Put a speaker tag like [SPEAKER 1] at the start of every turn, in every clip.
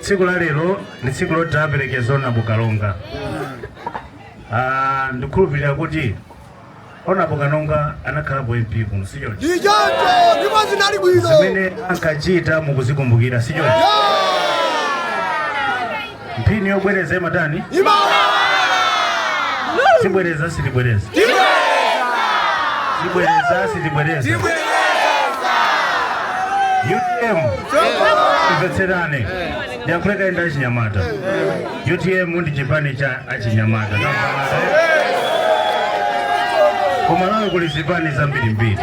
[SPEAKER 1] Tsiku la lero ndi tsiku loti taaperekeza Honorable Kalonga. Ah, ndikhulupirira kuti Honorable Kalonga anakhalapo MP kuno si choncho. Ndichoncho
[SPEAKER 2] ndipo zinali bwino. Zimene ankachita
[SPEAKER 1] mukuzikumbukira si choncho. Mphini yobwereza imatani? Sibwereza silibwereza. Sibwereza silibwereza. UTM mvetserani ndiyankhule kaye ndi achinyamata utm ndi chipani cha achinyamata ku malawi kuli zipani zambirimbiri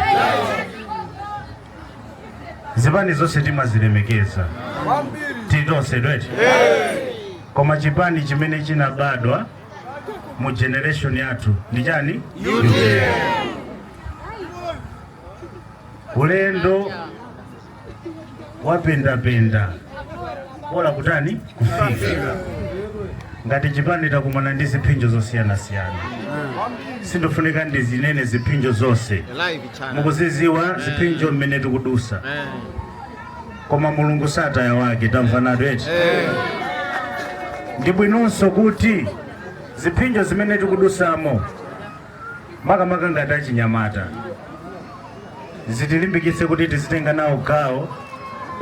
[SPEAKER 1] zipani zonse timazilemekeza titonsetu eti koma chipani chimene chinabadwa mu generation yathu ndi chani ulendo wapendapenda bola kutani kufika ngati chipani takumana ndi ziphinjo zosiyanasiyana sindifunika ndizinene ziphinjo zonse mukuziziwa ziphinjo mmene tikudusa koma mulungu sataya wake tamvanatu eti ndi bwinonso kuti ziphinjo zimene tikudusamo makamaka ngati achinyamata zitilimbikitse kuti tizitenga nawo gawo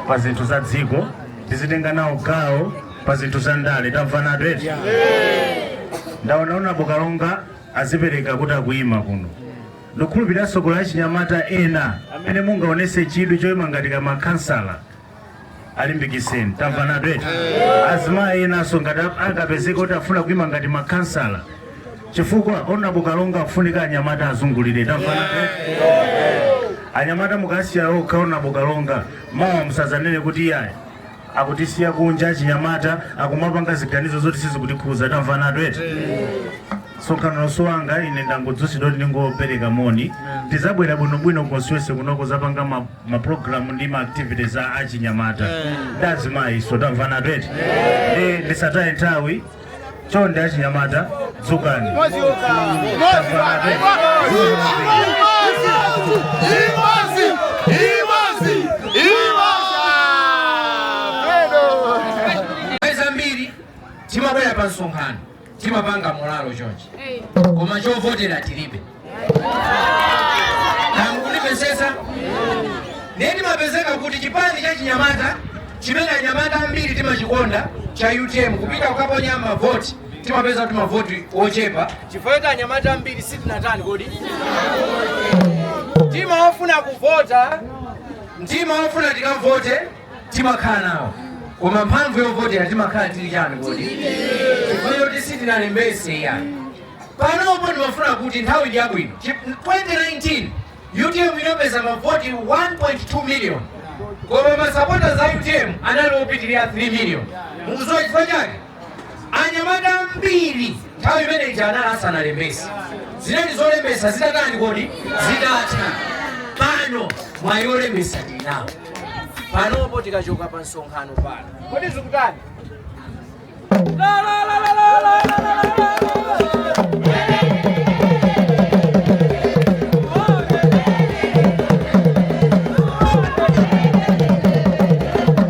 [SPEAKER 1] pa zinthu za dziko tizitenga nawo gawo pa zinthu za ndale tamvanatu eti ndaona honorable kalonga azipereka kuti akuyima kuno ndikhulupirira tsogolo achinyamata ena amene mungaonese chidwi choyima ngati ka makhansala alimbikiseni tamvanatu eti azimayi enanso ngati ap- angapezeka kuti afuna kuima ngati makhansala chifukwa honorable kalonga afunika anyamata azungulire tamvanatu eti anyamata mukaasiya okha honorable kalonga mawa musazanene kuti iyayi akutisiya kunja achinyamata akumapanga ziganizo zoti sizikutikhuza tamvanatu eti msonkhano uno si wanga ine ndangodzutsidwa kuti ndingopereka moni tizabwera bwinobwino constituency kuno kuzapanga ma ma program ndi ma activities a achinyamata ndi azimayinso tamvanatu eti ndi ndisataye nthawi chonde achinyamata dzukani Tamvanatu
[SPEAKER 3] eti. Nthawi zambiri timabwera pa msonkhano timapanga mulalo chonchi koma chovotera tilibe mukundimvesesa ndiye timapezeka kuti chipani cha chinyamata chimene anyamata ambiri timachikonda cha utm kupita kukaponya mavoti timapeza kuti mavoti ochepa chifukwa kuti anyamata ambiri sitinatani kodi mtima wofuna kuvota mtima wofuna tikavote timakhala nawo koma mphamvu yovotera timakhala tili chani kodi chifukwa choti sitinalembese eyani panopo ndimafuna kuti nthawi ndi yabwino 2019 utm inapeza mavoti 1.2 million koma masapota za utm anali opitirira 3 million mukuziwa chifukwa chake anyamata ambiri nthawi imene ija anali asanalembese zinali zolembesa zidatani kodi zidatha pano mwayi olembesa tinawo panopo tikachoka pa msonkhano pano kodi zikutani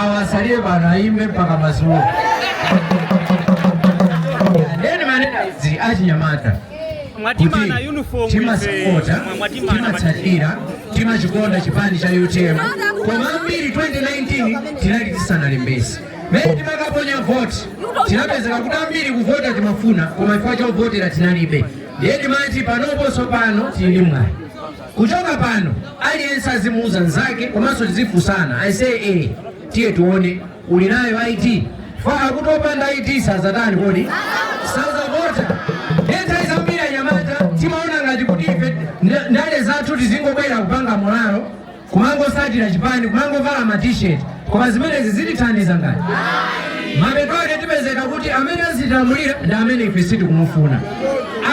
[SPEAKER 3] awa asalile pano ayimbe mpaka madzulo nde ndimanena izi
[SPEAKER 4] achinyamata kuti timasapota
[SPEAKER 3] timatsatira timachikonda chipani cha utm koma ambiri 2019 tinali tisanalembese mene timakaponya voti tinapezeka kuti ambiri kuvota timafuna koma chifukwa chovotera tinalibe ndiye timati panoponso pano tili ndi mwayi Kuchoka pano aliyense azimuuza nzake komanso tizifusana I say eh tiye tuone uli nayo ID paja akuti opanda ID sazatani kodi sazavota nthawi zambiri anyamata timaona ngati kuti ife nda- ndale zathu tizingobwera kupanga molalo kumangosatira chipani kumangovala ma t-shirt koma zimenezi sizitithandiza ngati mapeto ake tipezeka kuti amene azitilamulira ndi amene ife sitikumufuna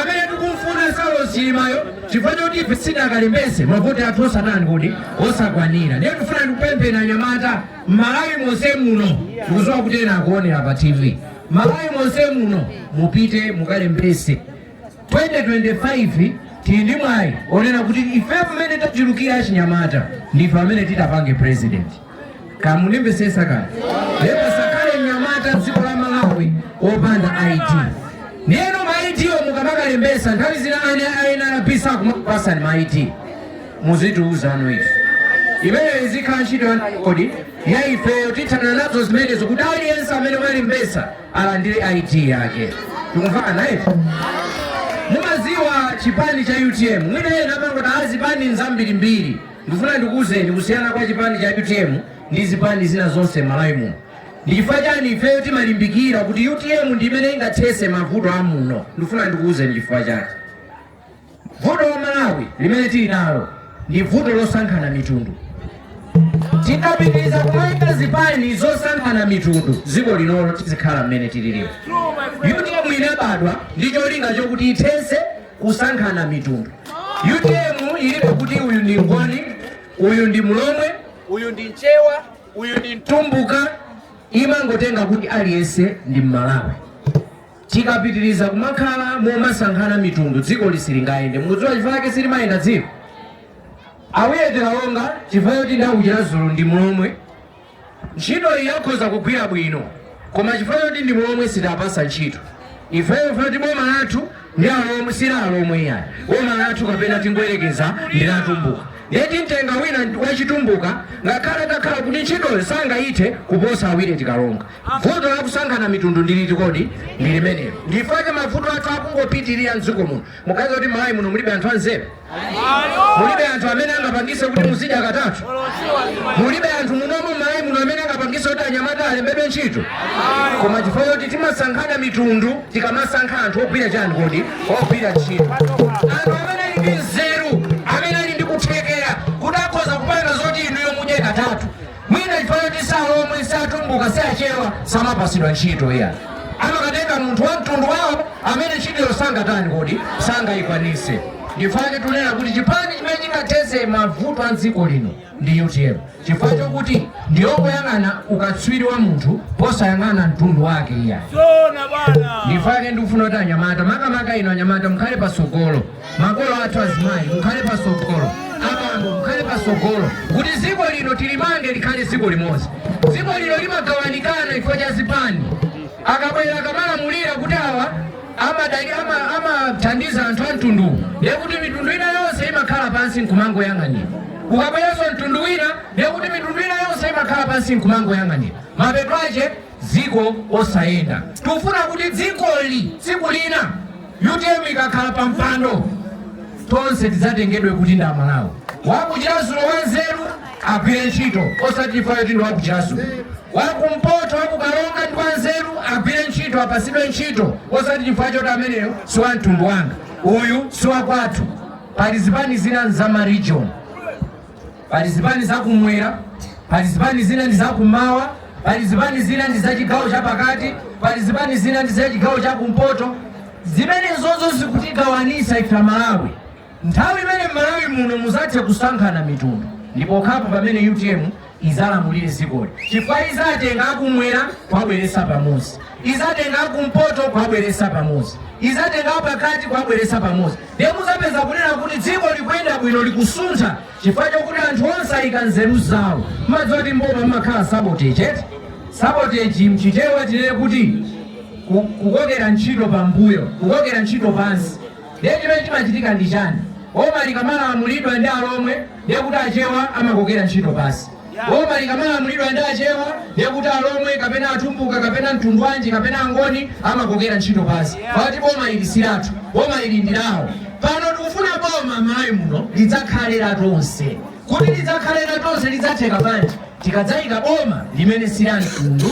[SPEAKER 3] amene tikumfuna saulosi chilimayo chifukwa choti ife sitidakalembese mavoti athu osatani kodi osakwanira ndiye tifuna ndikupempheni anyamata m'malawi monse muno tikuziwa kuti ena akuonera pa tv m'malawi monse muno mupite mukalembese 2025 tili ndi mwayi onena kuti ife pamene tachulukira achinyamata ndife amene titapange president mukundimvetsetsa kaya ndiye pasakhale mnyamata dziko la malawi opanda id ndeno ma id wo mukamakalembesa nthawi zina ena anarapisa kumakupasani ma id muzitiuza ife imeneyo izikhala ntchito yandani kodi ya ifeyo tithana nazo zimenezo kuti aliyense amene walembesa alandire id yake tikumvana naye mumaziwa chipani cha utm mwina ena amangoti aa zipani nzambirimbiri Ndifuna ndikuuzeni kusiyana kwa chipani cha utm ndi zipani zina zonse m'Malawi muno. Ndi chifukwa chani ifeyo timalimbikira kuti utm ndi imene ingathese mavuto a muno? Ndifuna ndikuuzeni chifukwa chake. Vuto la Malawi limene tili nalo ndi vuto losankhana mitundu. Tikapitiriza kumayika zipani zosankhana mitundu, dziko linolo lizikhala mmene lililimu. Utm inabadwa ndi cholinga chokuti ithese kusankhana mitundu utm ilibe kuti uyu ndi mngoni uyu ndi mlomwe uyu ndi mchewa uyu ndi mtumbuka imangotenga kuti aliyense ndi mmalawi tikapitiriza kumakhala momasankhana mitundu dziko lisilingayende mukudziwa chifukwa chake silimayenda dziko a willet kalonga chifukwa choti ndakuchiradzulu ndi mlomwe Ntchito iyi akhoza kugwira bwino koma chifukwa choti ndi mlomwe sitapasa ntchito ifeyo fati boma lathu ndi alomwe sila alomwe iyayi boma lathu kapena tingoyerekeza ndi la atumbuka nde timtenga wina wachitumbuka ngakhale atakhala kuti ntchitoyo sangayithe kuposa a willet kalonga vuto lakusankhana mitundu ndiliti kodi ndi limenelo ndifake mavuto athu akungopitirira mdziko muno muganiza kuti malawi muno mulibe anthu anzeru mulibe anthu amene angapangise kuti muzidya katatu mulibe anthu munomu malawi muno amene angapangise kuti anyamata alembedwe ntchito koma chifukwa choti timasankhana mitundu tikamasankha anthu ogwira chani kodi ogwira ntchito anthu amene ali ndi nzeru amene ali ndi kuthekera kuti akhoza kupanga zoti inuyo mudye katatu mwina chifukwa choti si alomwe si atumbuka si achewa samapasidwa ntchito iya amakatenga munthu wa mtundu wawo amene ntchitoyo sangatani kodi sangayikwanise ndifake tunena kuti chipani chimene chingathese mavuto a dziko lino ndi utm chifukwa chokuti ndiyo ikuyang'ana ukatswiri wa munthu posayang'ana mtundu wake iya ndifake ndikufuna kuti anyamata makamaka inu anyamata mukhale pasogolo makolo athu azimayi mukhale pasogolo abambo mukhale pasogolo kuti dziko lino tilimange likhale dziko limodzi dziko lino limagawanikana chifukwa cha zipani akabwera akamalamulira kuti awa amathandiza anthu a mtunduwu ndiye kuti mitundu ina yonse imakhala pansi nkumangoyang'anira ukabweranso mtundu wina ndiye kuti mitundu ina yonse imakhala pansi nkumangoyang'anira mapeto ache dziko osayenda. Tikufuna kuti dzikoli tsiku lina utm ikakhala pa mpando tonse tidzatengedwe kuti ndi amalawi. Wakuchiradzulu wanzeru agwire ntchito osati chifukwa choti ndi wakuchiradzulu. Wakumpoto wakukaronga ndi wanzeru agwire ntchito apasidwe ntchito osati chifukwa choti ameneyo si wa mtundu wanga uyu si wakwathu. Pali zipani zina za ma region Pali zipani za kumwera, pali zipani zina ndi za kumawa, pali zipani zina ndi za chigawo cha pakati, pali zipani zina ndi za chigawo cha kumpoto. Zimenezozo zikutigawanisa ife aMalawi. Nthawi imene Malawi muno muzathe kusankhana mitundu ndi pokhapo pamene UTM izalamulire dzikoli chifukwa izatenga akumwera kwabweresa pamodzi, izatenga akumpoto kwabweresa pamodzi, izatenga apakati kwabweresa pamodzi. Ndiye mudzapeza kunena kuti dziko likuyenda bwino, likusuntha chifukwa chokuti anthu onse ayika nzeru zawo. Mumadziwa kuti m'boma mumakhala sabotage eti? Sabotage mchichewa tinene kuti ku, kukokera ntchito pambuyo, kukokera ntchito pansi. Ndiye chimene chimachitika ndi chani? Boma likamalamulidwa ndi alomwe ndiye kuti achewa amakokera ntchito pansi. boma likamalamulidwa ndi achewa ndekuti alomwe kapena atumbuka kapena mtundwanji kapena angoni amakokera ntchito pansi poti boma ili silathu boma ili ndilawo pano tikufuna boma malawi muno lidzakhale la tonse kuti lidzakhale la tonse lidzatheka bwanji tikadzayika boma limene sila mtundu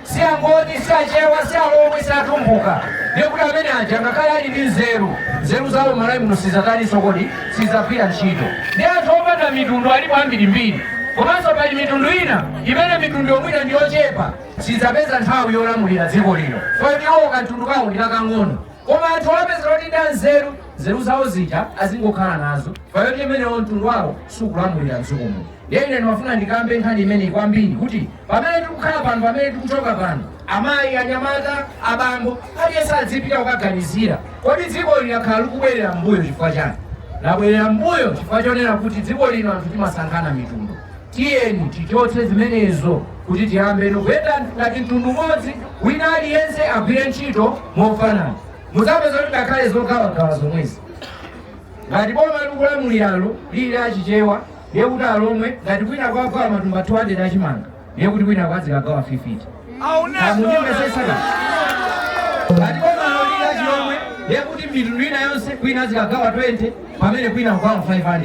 [SPEAKER 3] si angoni si achewa si alomwe si atumbuka ndiye kuti amene aja ngakhale ali ndi nzeru nzeru zawo malawi muno sizataninso kodi sizagwira ntchito ndi anthu opanda mitundu alipo ambirimbiri komanso pali mitundu ina imene mitundu yomwina ndi yochepa sizapeza nthawi yolamulira dziko lino poti iwo kamtundu kawo ndi kakang'ono koma anthu udzapeza kuti nda nzeru nzeru zawo zija azingokhala nazo poti amenewo mtundu wawo sukulamulira mdziko muno Ndiye ine ndimafuna ndikambe nkhani imeneyi kwambiri kuti pamene tikukhala pano, pamene tikuchoka pano, amayi, anyamata, abambo, aliyense adzipita kukaganizira, kodi dziko lino lakhala likubwerera m'mbuyo chifukwa chani? Labwerera m'mbuyo chifukwa chonena kuti dziko lino anthu timasankhana mitundu. Tiyeni tichotse zimenezo kuti tiyambeno kuyenda ngati mtundu umodzi, wina aliyense agwire ntchito mofanana. Mudzapeza kuti ngakhale zogawagawa zomwezi, ngati boma likulamuliralo lili a Chichewa, ndiye kuti alomwe ngati kwinako agawa matumba 200 achimanga ndiye kuti kwinako azikagawa 50 akundimvetsetsa ngati bomalo lili achilomwe ndiye kuti mitundu ina yonse kwina azikagawa 20 pamene kwina agawa 500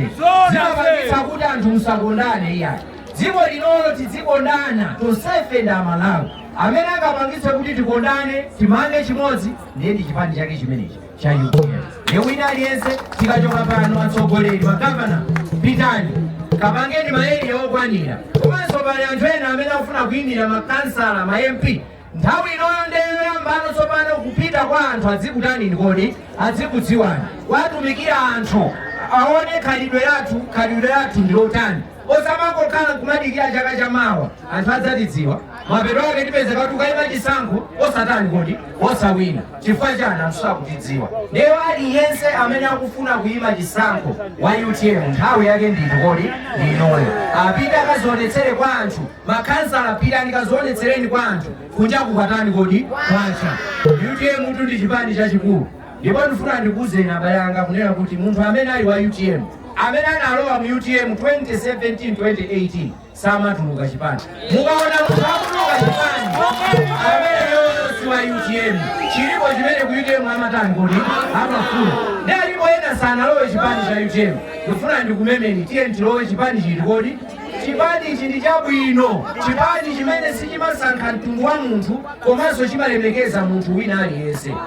[SPEAKER 3] zimapangitsa kuti anthu musakondane iyayi dziko linolo tidzikondana tonsefe ndi amalawi amene angapangitse kuti tikondane timange chimodzi ndiye ndi chipani chake chimenechi cha utm ndiye wina aliyense tikachoka pano atsogoleri magavana pitani kapangeni maeriya okwanira komanso pali anthu ena amene akufuna kuyimira makansala ma mp nthawi inoyo ndeyoyambano tsopano kupita kwa anthu adzikutanini kodi adzikudziwani kuwatumikira anthu aone khalidwe lathu khalidwe lathu ndilotani Osamangokhala nkumadikira chaka cha mawa anthu adzatidziwa, mapeto ake tipezeka tukaima chisankho osatani kodi, osawina. Chifukwa chani? Anthu sakutidziwa. Ndiye aliyense amene akufuna kuima chisankho wa utm nthawi yake ndi iti kodi? Ndi inoyo. Apite akazionetsere kwa anthu. Makhansala pitani kazionetsereni kwa anthu. Kunjaku kwatani kodi? Kwacha. Utm tu ndi chipani chachikulu. Ndipo ndifuna ndikuuzeni abale anga kunena kuti munthu amene ali wa utm amene analowa mu utm 2017 2018 samatuluka chipani mukaona munthu akutuluka chipani ameneyo si wa utm chilipo chimene ku utm amatani kodi amafuna ndi alipo ena sanalowe chipani cha utm ndifuna ndikumemeni tiyeni tilowe chipani chiti kodi chipani ichi ndi chabwino chipani chimene sichimasankha mtundu wa munthu komanso chimalemekeza munthu wina aliyense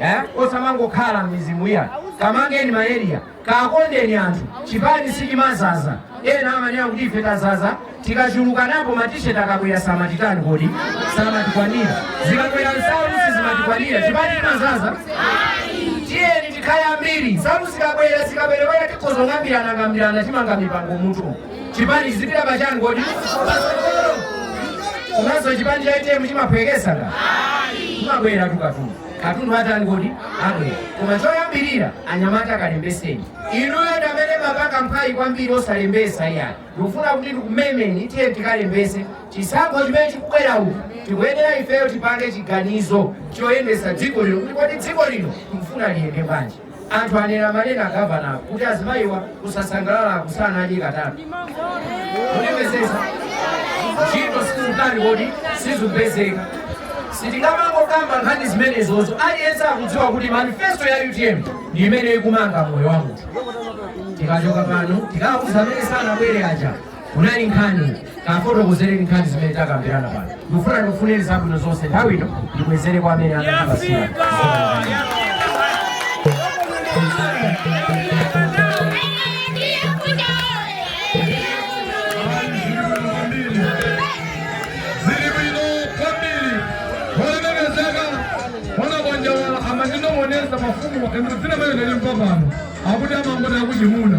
[SPEAKER 3] eh? osamangokhala mizimu iya kamangeni ma area kakondeni anthu chipani sichimazaza ena amanena kuti ife tazaza tikachuluka napo matisheti akabwera samatitani kodi samatikwanira zikabwera nsalu sizimatikwanira chipani sichimazaza tiyeni tikhale ambiri nsalu zikabwera zikaperewera tikazong'ambirana ng'ambirana timanga mipango mmutu chipani chizipita pachani kodi patsogolo komanso chipani cha utm chimaphwekesa nga kumabwera tu katundu katundu atani kodi abwera koma choyambirira anyamata akalembeseni inuyo ndamene mapanga mphwayi kwambiri osalembesa iyayi ndikufuna kuti ndikumemeni tiyeni tikalembese chisankho chimene chikubwera uku tikuyenera ifeyo tipange chiganizo choyendesa dziko lino kuti kodi dziko lino tikufuna liyende bwanji Anthu anena amanena governor kuti azimayiwa kusasangalala akusana adya katatu. Kundimvesesa. Ntchito sizikutani kodi sizikupezeka. Sitingamangokamba nkhani zimenezo aliyense akudziwa kuti manifesto ya UTM ndi imene ikumanga moyo wa munthu. Tikachoka pano tikauza amene sanabwere aja kunali nkhani. kafotokozereni nkhani zimene takambirana pano ndikufuna ndikufunireni zabwino zonse nthawi ino ndibwezere kwa amene
[SPEAKER 5] anandipasira ziri bwino kwambiri olemekezeka onakonjawala amandinong'oneza mafumu dzina la mayo ndalimva pano akuti amangoti akuchimuna